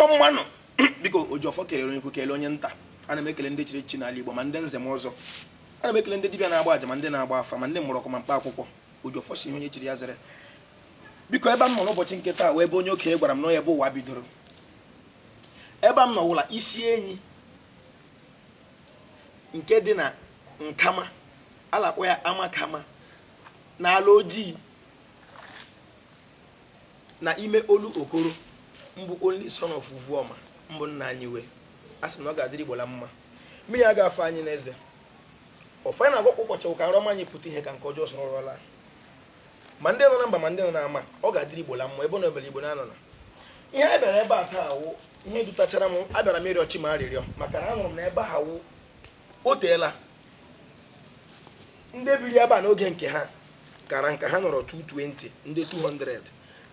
ngwanụ biko ojiọfọ kelere onye ukwu kelee onye nta ana m ekele ndị chiri echichi n'ala igbo ma ndị nze ma ọzọ ana m ekele ndị dibịa na-agba aja ma ndị na-agba afa ma ndị mgbọrọgwụ ma mkpa akwụkwọ ojiọfọ sị ihe onye chiri ya zere biko ebe m nọ n'ụbọchị nke taa wụ ebe onye okenye gwara m na ọ wụ ebe ụwa bidoro ebe m nọ wụ ala isi enyi nke dị na nkama a la-akpọ ya amakama n'ala ojii na ime olokoro mbụ only son of Uvuoma mbụ nna anyị wee a sị na ọ ga-adịrị Igbo la mma mmiri a ga-afa anyị n'eze ọfọ anyị na-agọkwa ụbọchị ka nrọ ọma anyị pụta ihe ka nke ọjọọ soro ụra laa ma ndị nọ na mba ma ndị nọ na ama ọ ga-adịrị Igbo la mma ebe na obere Igbo na anọ na ihe a bịara ebe a taa wụ ihe dutachara m abịara m ịrịọ chi m arịrịọ maka na anụrụ m na ebe ha wụ o teela ndị biri ebe a n'oge nke ha kara nka ha nọrọ 220 ndị 200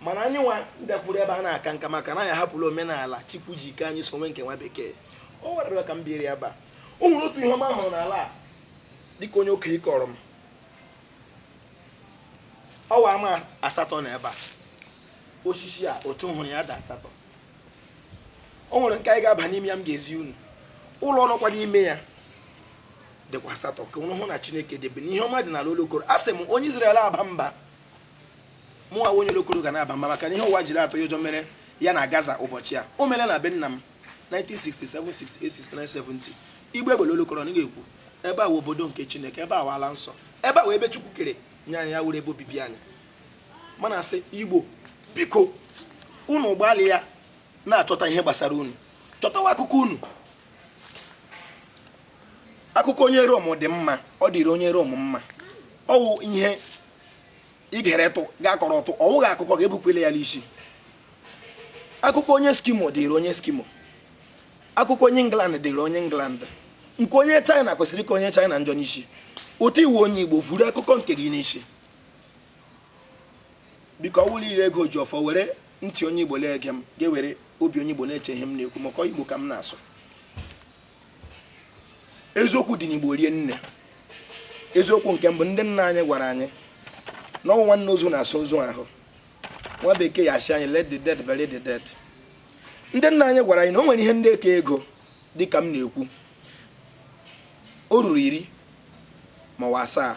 mana anyị nwa bịakwuru ebe a na-aka nka maka na anyị ahapụla omenala chukwu ji kee anyị sonwe nke nwa bekee o werere ka m biri ebe a o nwere otu ihe ọma m hụrụ n'ala a dịka onye okenye kọọrọ m ọ wụ ama asatọ nọ ebe a osisi a otu hụrụ ya dị asatọ o nwere nke anyị ga-aba n'ime ya m ga-ezi unu ụlọ nọkwa n'ime ya dịkwa asatọ ka unu hụ na chineke dị ebe a na ihe ọma dị n'ala olokoro a sị m onye Izrel aba mba mụ nwa onye olokoro ga na-aba mba maka na ihe ụwa jiri atụ ya ụjọ mere ya na Gaza ụbọchị a o mere na be nna m 1967 68 69 70 igbe egbele olokoro na ga-ekwu ebe a wụ obodo nke chineke ebe a wụ ala nsọ ebe a wụ ebe chukwu kere nye anyị ya wụrụ ebe obibi anyị m na-asị igbo biko unu gbalịa na-achọta ihe gbasara unu chọtawa akụkọ unu akụkọ onye rom dị mma ọ dịrị onye rom mma ọ wụ ihe ị gere tụ ga-akọrọ ọtụ ọ wụghị akụkọ ga-ebukwele ya n'isi akụkọ onye eskimo dịrị onye eskimo akụkọ onye england dịrị onye england nke onye china kwesịrị ka onye china njọ n'isi otu ị wụ onye igbo vuru akụkọ nke gị n'isi biko ọ wụrụ ị la-ege ojiọfọ were ntị onye igbo na-ege m gị were obi onye igbo na-eche ihe m na-ekwu maka igbo ka m na-asụ eziokwu dị n'igbo rie nne eziokwu nke mbụ ndị nna anyị gwara anyị na ọ wụ nwanne ozu na-asa ozu ahụ nwa bekee ya asị anyị let the dead bury the dead ndị nna anyị gwara anyị na o nwere ihe ndị eke ego dị ka m na-ekwu o ruru iri ma ọ wụ asaa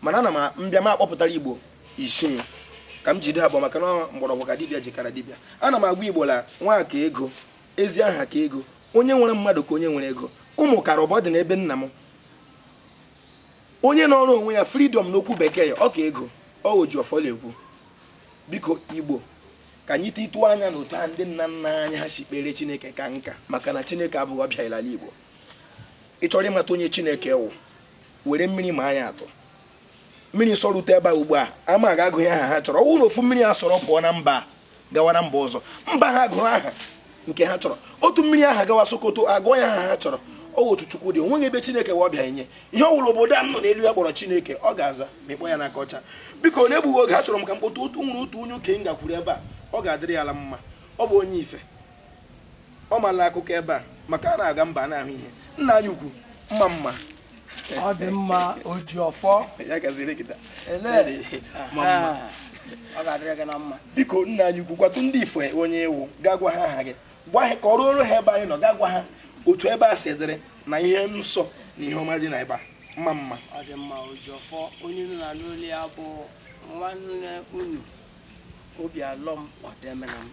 mana ana m mbịa m akpọpụtara igbo isii ka m jide ha bụ maka na mgbọrọgwụ ka dibịa ji kara dibịa ana m agwa igbo la nwa ka ego ezi aha ka ego onye nwere mmadụ ka onye nwere ego ụmụ kara ọbọ dị n'ebe nna m onye nọrọ onwe ya freedom n'okwu bekee ya ọ ka ego ọ oji ọfọ la-ekwu biko igbo ka anyị titụọ anya na otu a ndị nna nna anyị ha si kpere chineke ka nka maka na chineke abụghị ọbịa l'ala igbo ị chọrọ ịmata onye chineke wụ were mmiri maa ya atụ mmiri sọrute ebe a ugbu a ama ga-agụ ya aha ha chọrọ ọ wụ na ofu mmiri a sọrọ pụọ na mba gawa na mba ọzọ mba ha gụrụ aha nke ha chọrọ otu mmiri aha gawa sokoto a gụọ ya aha ha chọrọ ọ wụ otu chukwu dị o nweghị ebe chineke wụ ọbịa enye ihe ọ wụla obodo a nọ n'elu ụwa kpọrọ chineke ọ ga-aza ma ị kpọọ ya n'aka ọcha biko n'egbughị oge achọrọ m ka m kpọta otu nwere otu onye okenye gakwuru ebe a ọ ga-adịrị ya la mma ọ bụ onye ife ọ mala akụkọ ebe a maka a na-aga mba a na-ahụ ihe nna anyị ukwu mma mma ọ dị mma oji ọfọ ya gaziri gị taa. ele mma mma. ọ ga-adịrị gị na mma biko nna anyị ukwu gwatụ ndị ife onye ị wụ gaa gwa ha aha gị gwa ha kọọrọ ha ebe anyị nọ gaa gwa ha otu ebe a si dịrị na ihe nsọ na ihe ọma dị na ebe a mma mma ọ dị mma oji ọfọ onye unu na-anụ olu ya bụ nwanne unu obialọm ọdemenam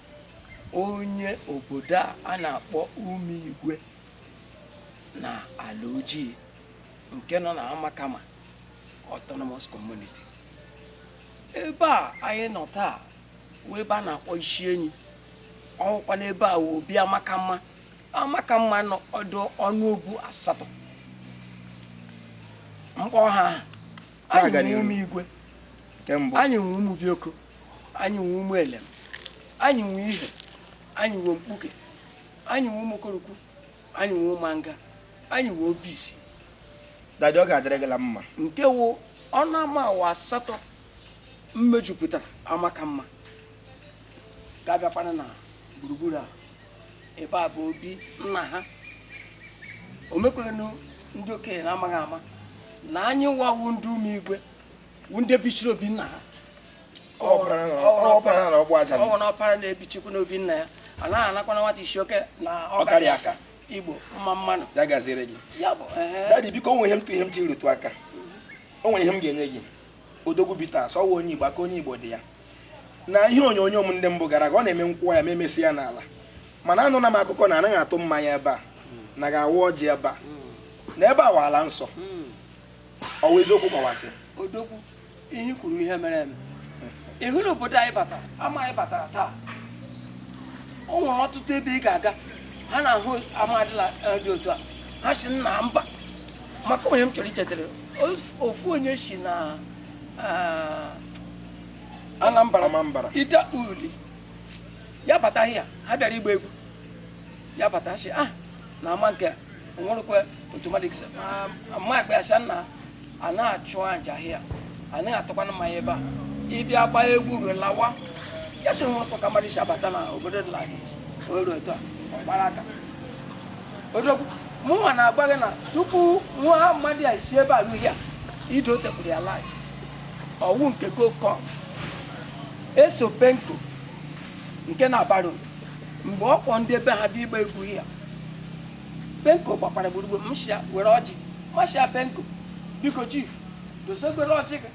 onye obodo a a na-akpọ ụmụigwe na alaoji nke nọ na amakama autonomous community ebe a anyị nọ taa wụ ebe a na-akpọ isi enyi ukwu ọkwa n'ebe a wụ obi amakama amakama dị ọnụ obu asatọ m kpọ ha aha anyị nwe ụmụigwe anyị nwe ụmụbioko anyị nwe ụmụelem anyị nwe ihe anyị nwe mkpuke anyị nwe ụmụkorokwu anyị nwe ụmụanga anyị nwe obizi dadi ọ ga-adịrị gị la mma nke wụ ọnụ ama awa asatọ mejupụtara amakama ga-abịakwana na gburugburu a ebe a bụ obi nna ha o mekwanụ ndị okenye na-amaghị ama na anyị wa wụ ndị ụmụigwe ndị bichiri obi nna ha ọ wụ na ọpara na-ebichikwa n'obi nna ya a naghị anakwana nwata isi oke na ọkarị aka igbo mma mma nụ ya gaziri gị dadi biko o nwe ihe m tụ ihe m tiri rụtụ aka o nwere ihe m ga-enye gị odogwu bitters ọ wụ onye igbo aka onye igbo dị ya na ihe onyonyo m ndị mbụ gara aga ọ na-eme nkwụwa ya ma emesi ya n'ala mana anụna m akụkọ na anaghị atụ mmanya ebe a anaghị awa ọjị ebe a na ebe a wụ ala nsọ ọ wụ eziokwu kọwasị odogwu ihe kwuru ihe mere eme ị hụla obodo anyị batara ama anyị batara taa o nwere ọtụtụ ebe ị ga-aga ha na-ahụ ama dịla eh, dị otu a ha sị nna mba maka o nwere onye m chọrọ ichetara ofu onye si na eh, anambra ide uli ya bata here ha bịara ịgba egwu ya bata sị ah na ama nke onwerekwe otu mmadụ gị ama akpa ya sị na anaghị achụ aja here anaghị atụkwana mmanya ebe a ị bịa gbaa egwu ruo lawa ya sị nwerekwa ka mmadụ si abata na obodo dị lagị oru etu a ọ gbara aka odogwu mụnwa na-agwa gị na tupu nwa mmadụ ya si ebe a ruo ya ido tepụrụ ya life ọ wụ nke gokọm eso penko nke na-abara mgbe ọ kpọ ndị ebe ha bịa ịgba egwu here penko gbakwara gburugburu m shia were ọjị m shia penko biko chief dosekwere ọjị gị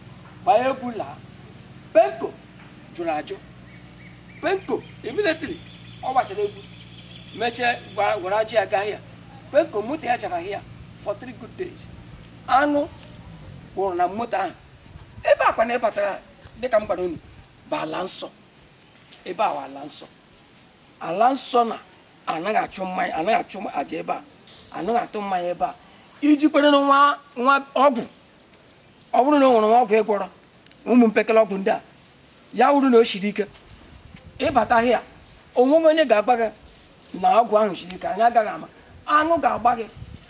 gbaa egwu laa penko jụrụ ajụ penko immediately ọ gbachara egwu mechie were ọjị ya gaa here penko moto ya chara here for three good days aṅụ wụrụ na moto ahụ ebe a kwanụ ị batara dịka m gwara unu bụ ala nsọ ebe a ala nsọ ala nsọ na anaghị achụ mmanya anaghị achụ aja ebe a anaghị atụ mmanya ebe a i jikwerenụ nwa nwa ọgwụ ọ bụrụ na o nwere nwa ọgwụ ị gwọrọ ụmụ mpekele ọgwụ ndị a ya wụrụ na o siri ike ị bata here onweghị onye ga-agwa gị na ọgwụ ahụ siri ike anyị agaghị ama aṅụ ga-agba gị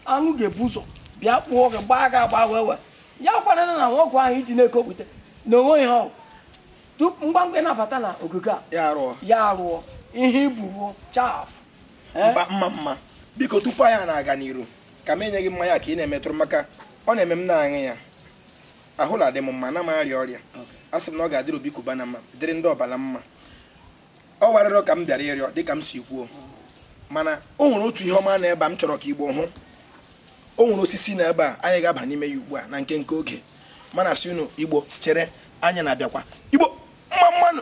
aṅụ ga-ebu ụzọ bịa kpụọ gị gbaa gị agba wee wee ya kwara na nwa ọgwụ ahụ i ji na-ekopụta na onweghị ihe ọ wụ tupu ngwa ngwa ị na-abata na ogige a ya arụọ ya arụọ ihe ibuwo chaff eh? mba mma mma biko tupu anyị na-aga n'iru ka m enye gị mmanya ka ị na-emetụrụ maka ọ na-eme m na-aṅụ ya ahụ na-adị m mma na m arịa ọrịa a sị m na ọ ga-adịrị obi cubana mma dịrị ndị ọba mma ọ wụ arịrịọ ka m bịara ịrịọ dịka m si kwuo mana o nwere otu ihe ọma na ebe a m chọrọ ka igbo hụ o nwere osisi na ebe a anyị ga-aba n'ime ya ugbu a na nke nke oge m na-asị unu igbo chere anyị na-abịakwa igbo mma mma nụ